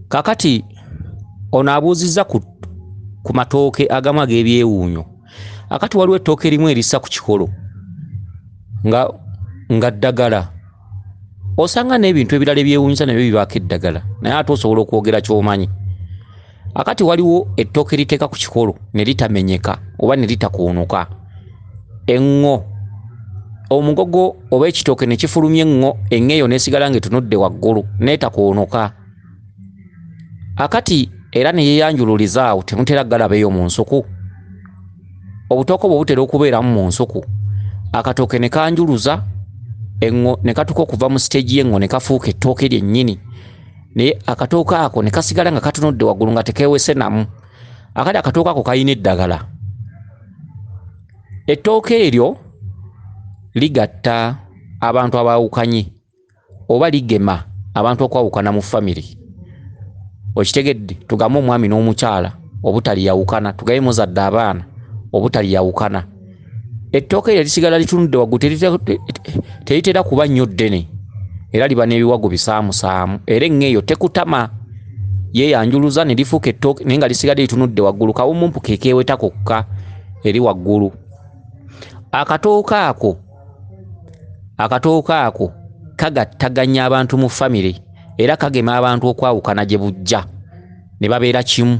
kakati ono abuuzizza ku, ku matooke agamu ag'ebyewuunyo akati waliwo ettooke erimu erissa ku kikolo nga nga ddagala osanga n'ebintu ebirala ebyewuunyisa nabyo bibaako eddagala naye ate osobola okwogera ky'omanyi akati waliwo ettooke liteeka ku kikolo ne litamenyeka oba ne litakuunuka eŋŋo omugogo oba ekitooke ne kifulumya eŋŋo eŋŋo eyo n'esigala ng'etunudde waggulu n'etakuunuka akati era ne yeeyanjululiza awo temutera galaba eyo mu nsuku obutooke bwe butera okubeeramu mu nsuku akatooke ne kanjuluza eŋŋo ne katuka okuva mu siteegi y'eŋŋo ne kafuuka ettooke lyennyini naye akatooke ako ne kasigala nga katunudde waggulu nga tekeewese namu akali akatooke ako kalina eddagala ettooke eryo ligatta abantu abaawukanye oba ligema abantu okwawukana mu famire okitegedde tugambe omwami n'omukyala obutaliyawukana tugabe muzadde abaana obutaliyawukana ettooke eryo lisigala litunudde waggulu teritera kuba nnyo ddene era liba n'ebiwagu bisaamusaamu era eŋŋe eyo tekutama yeeyanjuluza ne lifuuka ettooke naye nga lisigadde litunudde waggulu kawumumpu ke keeweta kokka eri waggulu akatooke ako akatooke ako kagattaganya abantu mu famire era kagema abantu okwawukana gye bujja ne babeera kimu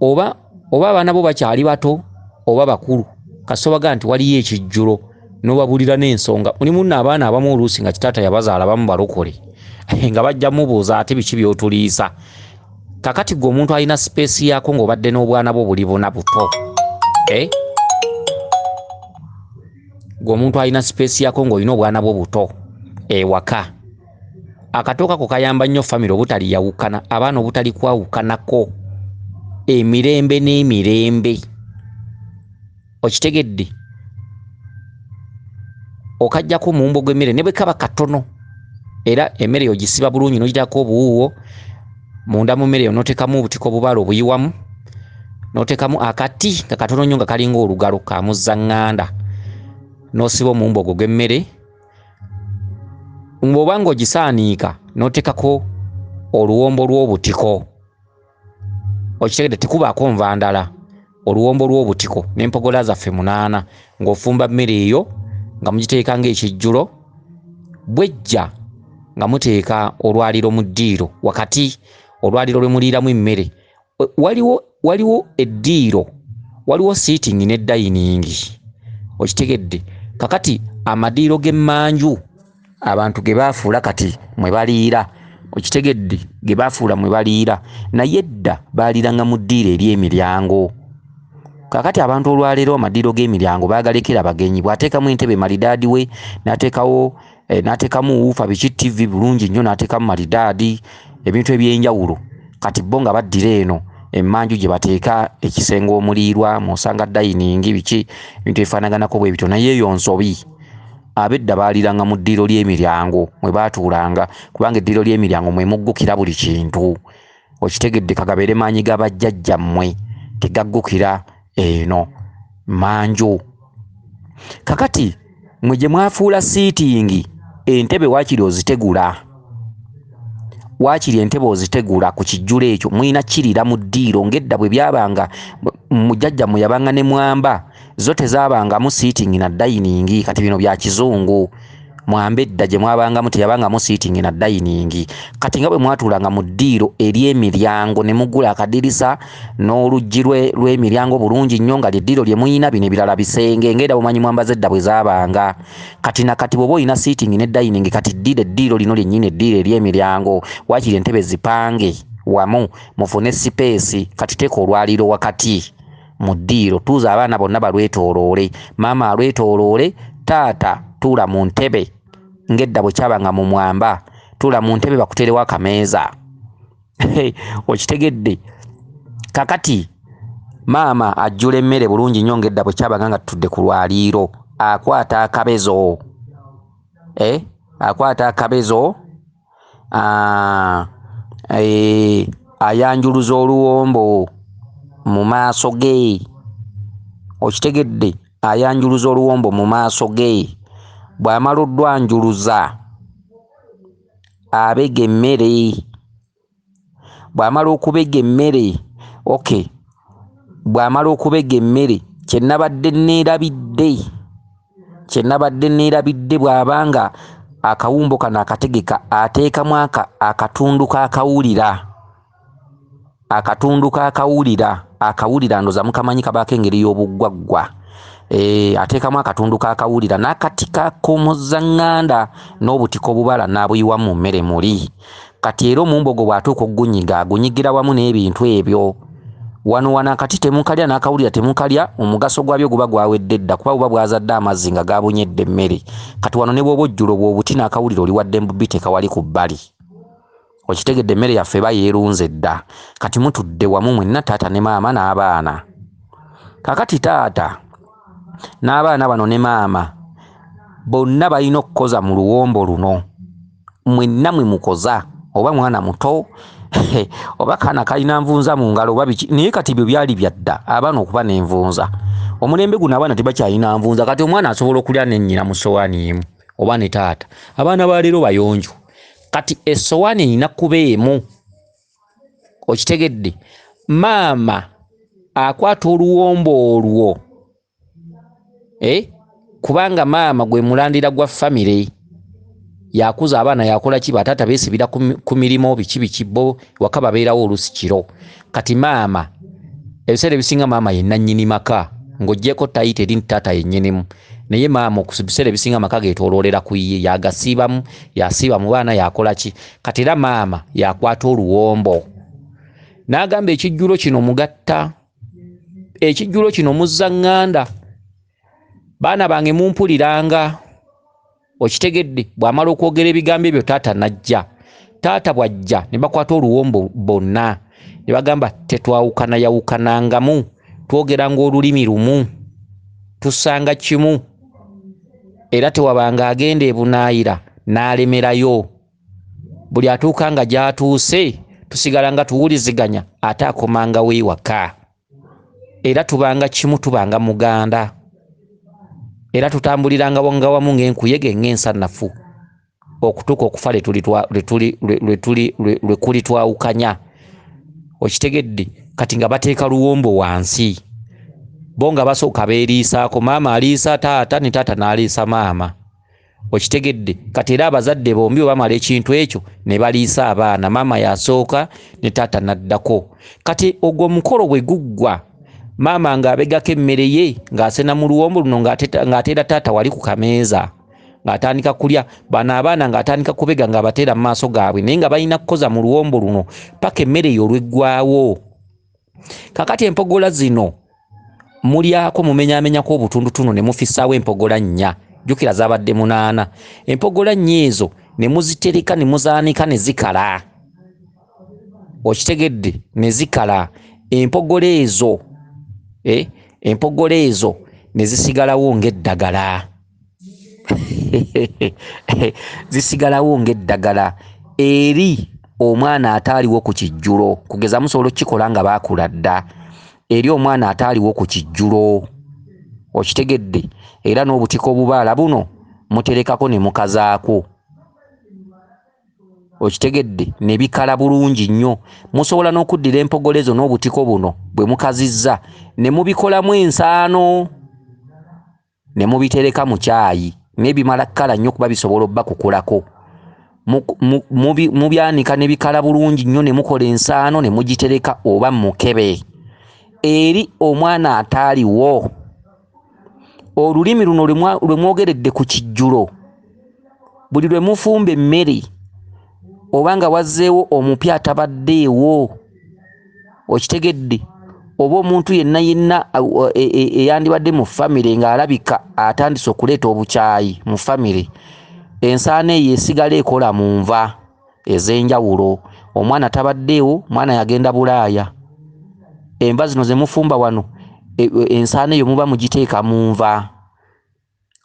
oba oba abaana bo bakyali bato oba bakulu kasobaga nti waliyo ekijjulo nobabulira n'ensonga mulimu nno abaana abamu oluusi nga kitaata yabazaala bamu balokole nga bajja mubuuza ate biki byotuliisa kakati gwe omuntu alina sipeesi yaako ng'obadde n'obwana bwo buli buna buto eh? gwe omuntu alina sipeesi yaako ng'olina obwana bwo buto ewaka eh, akatooka ko kayamba nnyo famire obutaliyawukana abaana obutali kwawukanako emirembe n'emirembe okitegedde okajjako omuwumbo gw'emmere ne bwe kaba katono era emmere yogisiba bulungi nogitako obuwuuwo munda mu mmere yo notekamu obutiko obubaala obuyiwamu notekamu akati nga katono nnyo nga kalinga olugalo kamuzaŋŋanda nosiba omuwumbo ogwo gw'emmere ng'oba ng'ogisaaniika n'oteekako oluwombo lw'obutiko okitegede tekubaako nva ndala oluwombo lw'obutiko n'empogola zaffe munaana ng'ofumba mmere eyo nga mugiteeka ng'ekijjulo bwejja nga muteeka olwaliro mu ddiiro wakati olwaliro lwe muliiramu emmere waliwo waliwo eddiiro waliwo sitting ne dining okitegedde kakati amadiiro g'emmanju abantu ge baafuula kati mwe baliira okitegedde ge baafuula mwe baliira naye edda baaliranga mu ddiiro eri emiryango kakati abantu olwaleero amadiiro g'emiryango baagalekera bagenyi bw'ateekamu entebe malidaadi we n'ateekawo eh, n'ateekamu wuufa biki ttivi bulungi nnyo n'ateekamu malidaadi ebintu eby'enjawulo kati bo nga baddira eno emmanju gye bateeka ekisenge omuliirwa mw'osanga dayiningi biki ebintu ebifaanaganako bwe bityo naye eyo nsobi abedda baaliranga mu ddiiro ly'emiryango mwe baatuulanga kubanga eddiiro ly'emiryango mwe muggukira buli kintu okitegedde kagabeere maanyi ga bajjajja mmwe tegaggukira eno manju kakati mwe gye mwafuula siitingi entebe waakiri ozitegula waakiri entebe ozitegula ku kijjulo ekyo mulina kirira mu ddiiro ng'edda bwe byabanga mujjajja mwe yabanga ne mwamba zo tezabangamu sitting na dayiningi kati bino bya kizungu mwambe edda gye mwabangamu teyabangamu sitting na dayiningi kati nga bwe mwatuulanga mu ddiiro ery'emiryango ne mugula akadirisa n'oluggi lw'emiryango bulungi nnyo nga lyeddiiro lye muyina bino ebirala bisenge ngaera bumanyi mwambaza edda bwe zaabanga kati na kati bwoba olina sitting ne dayiningi kati ddira eddiiro lino lyennyini eddiiro ery'emiryango waakiri entebe zipange wamu mufune sipeesi kati teeka olwaliiro wakati mu ddiiro tuuza abaana bonna balwetooloole maama alwetooloole taata tuula mu ntebe ng'edda bwe kyabanga mu mwamba tuula mu ntebe bakuterewo akameeza okitegedde kakati maama ajjula emmere bulungi nnyo ng'edda bwe kyabanga nga tutudde ku lwaliiro akwata akabezo eh? akwata akabezo ah, eh, ayanjuluza oluwombo mu maaso ge okitegedde ayanjuluza oluwombo mu maaso ge bw'amala oddwanjuluza abega emmere bw'amala okubega emmere okay bw'amala okubega emmere kye nabadde neerabidde kye nabadde neerabidde bw'aba nga akawumbo kano akategeka ateekamu akatundu k'akawulira akatundu k'akawulira akawulira ndoza mukamanyi kabaako engeri y'obuggwaggwa Eh, ateekamu akatundu kakawulira n'akati kakomozza ŋŋanda n'obutiko obubala n'abuyiwa mu mmere muli Kati era omumbogo bw'atuuka okugunyiga agunyigira wamu n'ebintu ebyo. Wano wano akati temukalya n'akawulira temukalya, omugaso gwabyo guba gwawedde dda kuba buba bwazadde amazzi nga gaabunyedde emmere. Kati wano ne bw'oba ojjula obwo obuti n'akawulira oli waddembe obiteeka wali ku bbali. Okitegedde emmere yaffe eba yeerunze dda. Kati mutudde wamu mwenna taata ne maama n'abaana. Kaakati taata n'abaana bano ne maama bonna balina okukoza mu luwombo luno. mwenna mwe mukoza oba mwana muto oba kaana kalina nvunza mu ngalo oba biki naye kati ebyo byali byadda abaana okuba n'envunza omulembe guno abaana tebakyalina nvunza kati omwana asobola okulya nennyina mu sowaani emu oba ne taata abaana ba leero bayonjo kati essowaani erina kuba emu okitegedde maama akwata oluwombo olwo eh? kubanga maama gwe mulandira gwa famire yakuza abaana yakola ki bataata besibira ku mirimu biki biki bo waka babeerawo olusi kiro kati maama ebiseera ebisinga maama ye nannyini maka ng'ogyeko tayita eri nti taata yennyinimu naye maama okubiseera ebisinga amaka getoloolera ku ye yagasiibamu yasiiba mu baana yakola ki kati era maama yakwata oluwombo n'agamba ekijjulo kino mugatta ekijjulo kino muzza ŋŋanda baana bange mumpuliranga okitegedde bw'amala okwogera ebigambo ebyo taata najja taata bw'ajja ne bakwata oluwombo bonna ne bagamba tetwawukana yawukanangamu twogeranga olulimi lumu tusanga kimu era tewabanga agenda ebunaayira n'alemerayo buli atuuka nga gy'atuuse tusigala nga tuwuliziganya ate akomanga wewaka era tubanga kimu tubanga muganda era tutambuliranga nga wamu ng'enkuyege ng'ensanafu okutuuka okufa lwe kuli twawukanya okitegedde kati nga bateeka luwombo wansi bo nga basooka beeriisaako maama aliisa taata ne taata n'aliisa maama okitegedde kati era abazadde bombi webamala ekintu ekyo ne baliisa abaana maama yasooka ne taata naddako kati ogwo omukolo bwe guggwa maama ng'abegako emmere ye ng'asena mu luwombo luno ng'ateera taata wali ku kameeza ng'atandika kulya bano abaana ng'atandika kubega ng'abateera mu maaso gaabwe naye nga balina kukoza mu luwombo luno paka emmere yo olweggwawo kakati empogola zino mulyako mumenyamenyako obutundutundu ne mufisaawo empogola nnya jjukira zabadde munaana empogola nnya ezo ne muzitereka ne muzaanika ne zikala okitegedde ne zikala empogola ezo eh, empogola ezo ne zisigalawo ng'eddagala zisigalawo ng'eddagala eri omwana ataaliwo ku kijjulo kugeza musobola okukikola nga baakula dda eri omwana ataaliwo ku kijjulo okitegedde era n'obutika obubaala buno muterekako ne mukazaako okitegedde ne bikala bulungi nnyo musobola n'okuddira empogole zo n'obutiko buno bwe mukazizza ne mubikolamu ensaano ne mubitereka mu kyayi naye bimala kukala nnyo kuba bisobola obbakukulako mubyanika ne bikala bulungi nnyo ne mukola ensaano ne mugitereka oba mukebe eri omwana ataaliwo olulimi luno lwe mwogeredde ku kijjulo buli lwe mufumba emmere oba nga wazzeewo omupya atabaddeewo okitegedde oba omuntu yenna yenna e, e, eyandibadde mu famire ng'alabika atandise okuleeta obukyayi mu famire ensaana eyo esigala ekola mu nva ez'enjawulo omwana tabaddeewo mwana yagenda bulaaya enva zino ze mufumba wano e, ensaana eyo muba mugiteeka mu nva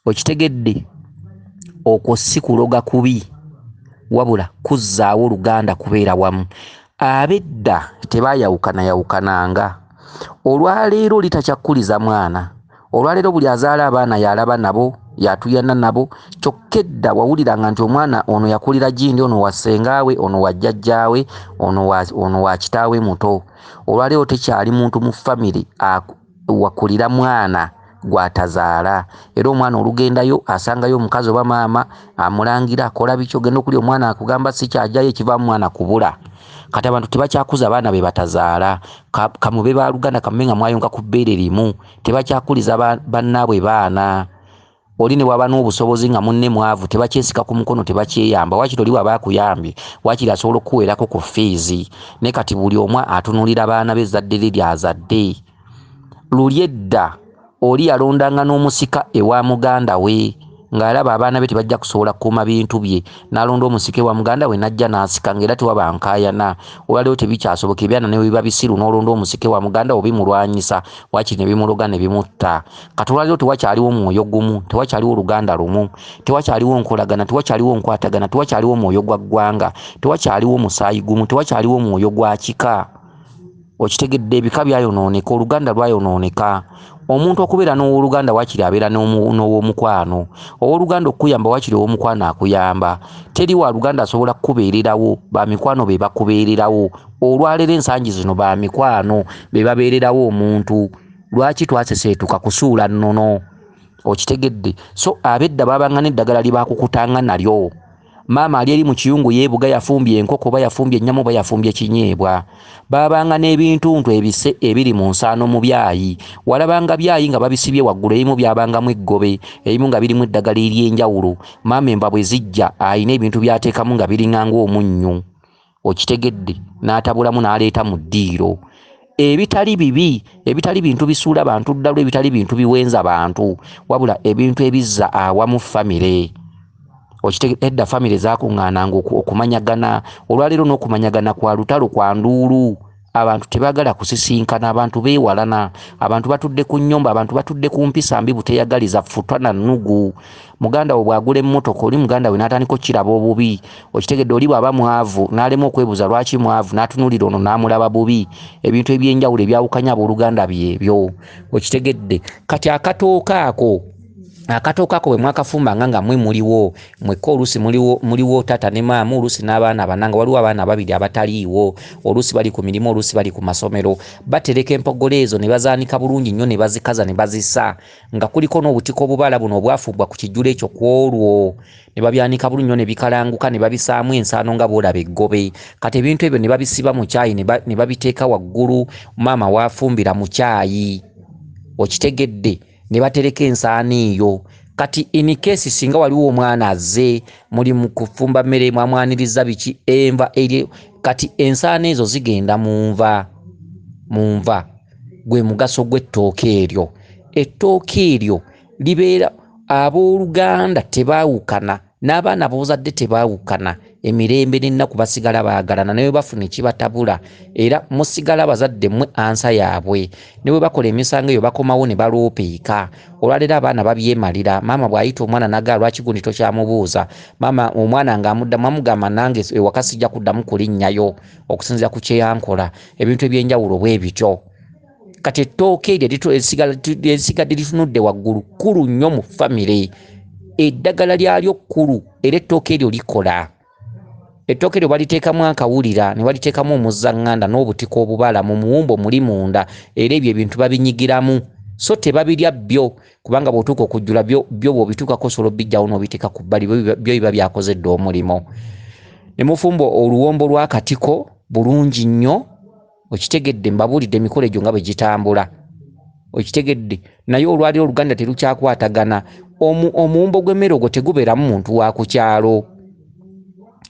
okitegedde okwo si kuloga kubi wabula kuzzaawo luganda kubeera wamu abedda tebayawukanayawukananga olwaleero litakyakkuliza mwana olwaleero buli azaala abaana yalaba nabo yatuyana nabo kyokka edda wawuliranga nti omwana ono yakulira gindi ono wa ssengaawe ono wa jjajjaawe ono wa kitaawe muto olwaleero tekyali muntu mu famire wakulira mwana gwatazaala era omwana olugendayo asangayo omukazi oba maama amulangira akola biki ogenda okuli omwana akugamba sikyajayo ekivamu mwana kubula kati abantu tebakyakuza abaana be batazaala kamube baluganda kamube nga mwayonka ku bbeere limu tebakyakuliza bannaabwe baana oli ne bwaba n'obusobozi nga munne mwavu tebakyesika ku mukono tebakyeyamba wakiri oli bwaba akuyambye wakiri asobola okukuweerako ku fiizi ne kati buli omu atunuulira baana be ezzadde lye lyazadde luli edda oli yalondanga n'omusika ewa muganda we ng'alaba abaana be tebajja kusobola kukuuma bintu bye n'alonda omusika ewa muganda we n'ajja n'asika ng'era tewaba nkaayana olwaliwo tebikyasoboka ebyana ne biba bisiru n'olonda omusika ewa muganda obimulwanyisa wakiri ne bimuloga ne bimutta kati olwaliro tewakyaliwo mwoyo gumu tewakyaliwo oluganda lumu tewakyaliwo nkolagana tewakyaliwo nkwatagana tewakyaliwo mwoyo gwa ggwanga tewakyaliwo musaayi gumu tewakyaliwo mwoyo gwa kika okitegedde ebika byayonooneka oluganda lwayonooneka omuntu okubeera n'owoluganda wakiri abeera n'owomukwano owoluganda okukuyamba wakiri owomukwano akuyamba teri wa luganda asobola kukubeererawo bamikwano be bakubeererawo olwalero ensangi zino bamikwano be babeererawo omuntu lwaki twaseseetuka kusuula nnono okitegedde so abedda babanga n'eddagala libakukutanga nalyo maama ali eri mu kiyungu yeebuga yafumbye enkoko oba yafumbye ennyama oba yafumbye ekinyeebwa baabanga n'ebintuntu ebise ebiri mu nsaano mu byayi walabanga byayi nga babisibye waggulu ebimu byabangamu eggobe ebimu nga birimu eddagala ery'enjawulo maama enva bwe zijja alina ebintu byateekamu nga biringanga omunnyu okitegedde n'atabulamu n'aleeta mu ddiiro ebitali bibi ebitali bintu bisuula bantu ddalu ebitali bintu biwenza bantu wabula ebintu ebizza awamu famire okitegedde edda famire zakuŋŋaananga okumanyagana olwaleero n'okumanyagana kwa lutalo kwa nduulu abantu tebagala kusisinkana abantu bewalana abantu batudde ku nyumba abantu batudde ku mpisa mbi buteyagaliza futwa na nugu muganda wo bwagula emmotoka oli muganda we natandika okukiraba obubi okitegedde oli bwaba mwavu nalema okwebuza lwaki mwavu natunulira ono namulaba bubi ebintu ebyenjawulo ebyawukanya abooluganda byebyo okitegedde kati akatooka ako akatooke ako bwe mwakafumbanga nga mwe muliwo mwekka oluusi muliwo muliwo taata ne maama oluusi n'abaana bana nga waliwo abaana ababiri abataliiwo oluusi bali ku mirimu oluusi bali ku masomero batereka empogolo ezo ne bazaanika bulungi nnyo ne bazikaza ne bazisa nga kuliko n'obutiko obubaala buno obwafuubbwa ku kijjulo ekyo ku olwo ne babyanika bulungi nnyo ne bikalanguka ne babisaamu ensaano nga bwolaba eggobe kati ebintu ebyo ne babisiba mu kyayi ne babiteeka waggulu maama waafumbira mu kyayi okitegedde ne batereka ensaano eyo kati in case singa waliwo omwana azze muli mu kufumba mmere mwamwanirizza biki enva eri kati ensaano ezo zigenda mu nva mu nva gwe mugaso gw'ettooka eryo ettooka eryo libeera ab'oluganda tebaawukana n'abaana boozadde tebaawukana emirembe n'ennaku basigala baagalana ne bwe bafuna ekibatabula era musigala abazadde mmwe ansa yaabwe ne bwe bakola emisango eyo bakomawo ne baloopeeka olwaleero abaana babyemalira maama bw'ayita omwana nagaa lwaki gundi tokyamubuuza maama omwana ng'amuddamu amugamba nange ewaka sijja kuddamu kulinnyayo okusinzira ku kyeyankola ebintu eby'enjawulo bwe bityo kati ettooke eryo esigadde litunudde waggulu kkulu nnyo mu famire eddagala lyalyo kkulu era ettooke eryo likola ettooke eryo baliteekamu akawulira ne baliteekamu omuzaŋŋanda n'obutiko obubala mu muwumbo muli munda era ebyo ebintu babinyigiramu so tebabirya byo kubanga bw'otuuka okujjula byo bw'obituukako osobola obijjawo n'obiteeka ku bbali byo biba byakoze dda omulimu ne mufumba oluwombo lw'akatiko bulungi nnyo okitegedde mbabuulidde emikolo egyo nga bwe gitambula okitegedde naye olwaliro oluganda terukyakwatagana omuwumbo gw'emmere ogwo tegubeeramu muntu wa ku kyalo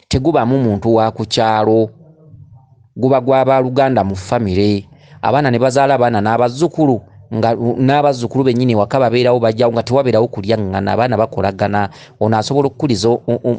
tegubaamu muntu wa ku kyalo guba gwa baaluganda mu famire abaana ne bazaala abaana n'abazzukulu nga n'abazzukulu bennyini ewaka babeerawo bajjawo nga tewabeerawo kulyaŋŋana abaana bakolagana ono asobola okukuliza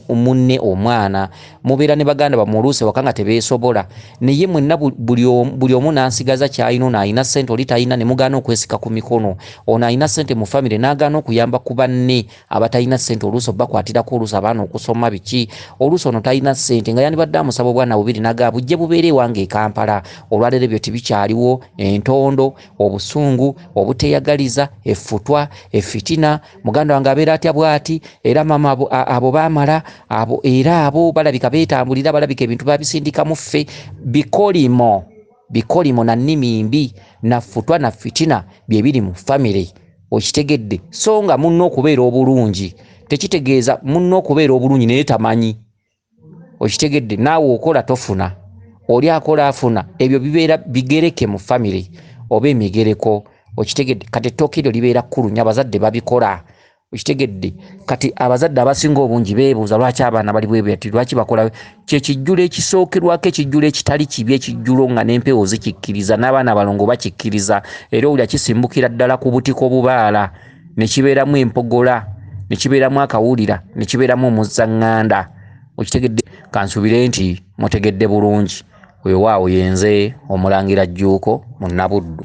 munne omwana mubeera ne baganda bamwoluuse waka nga tebeesobola naye mwenna buli omu nansigaza kyalina ono alina sente oli talina ne mugaana okwesika ku mikono ono alina sente mu famire n'agaana okuyamba ku banne abatalina sente oluusi obakwatirako oluusi abaana okusoma biki oluusi ono talina sente nga yandibadde amusaba obwana bubiri naga bujje bubeere ewange ekampala olwaleero ebyo tebikyaliwo entondo obusungu obuteyagaliza effutwa effitina muganda wange abeera atya bwati era mama abo, abo bamala abo era abo balabika betambulira balabika ebintu babisindika muffe bikolimo bikolimo na nnimi mbi na futwa na fitina byebiri mu family okitegedde so nga munna okubeera obulungi tekitegeeza munna okubeera obulungi naye tamanyi okitegedde naawe okola tofuna oli akola afuna ebyo bibeera bigereke mu famiry oba emigereko okitegedde kati ettooka eryo libeera kkulu nyo abazadde babikola okitegedde kati abazadde abasinga obungi beebuuza lwaki abaana bali bwebati lwaki bakola kyekijjulo ekisookerwako ekijjulo ekitali kibi ekijjulo nga n'empewo zikikkiriza n'abaana balongo bakikkiriza era owulira kisimbukira ddala ku butiko bubaala ne kibeeramu empogola ne kibeeramu akawulira ne kibeeramu omuzzaŋŋanda okitegedde kansuubire nti mutegedde bulungi weewaawo yenze omulangira jjuuko mu nabuddu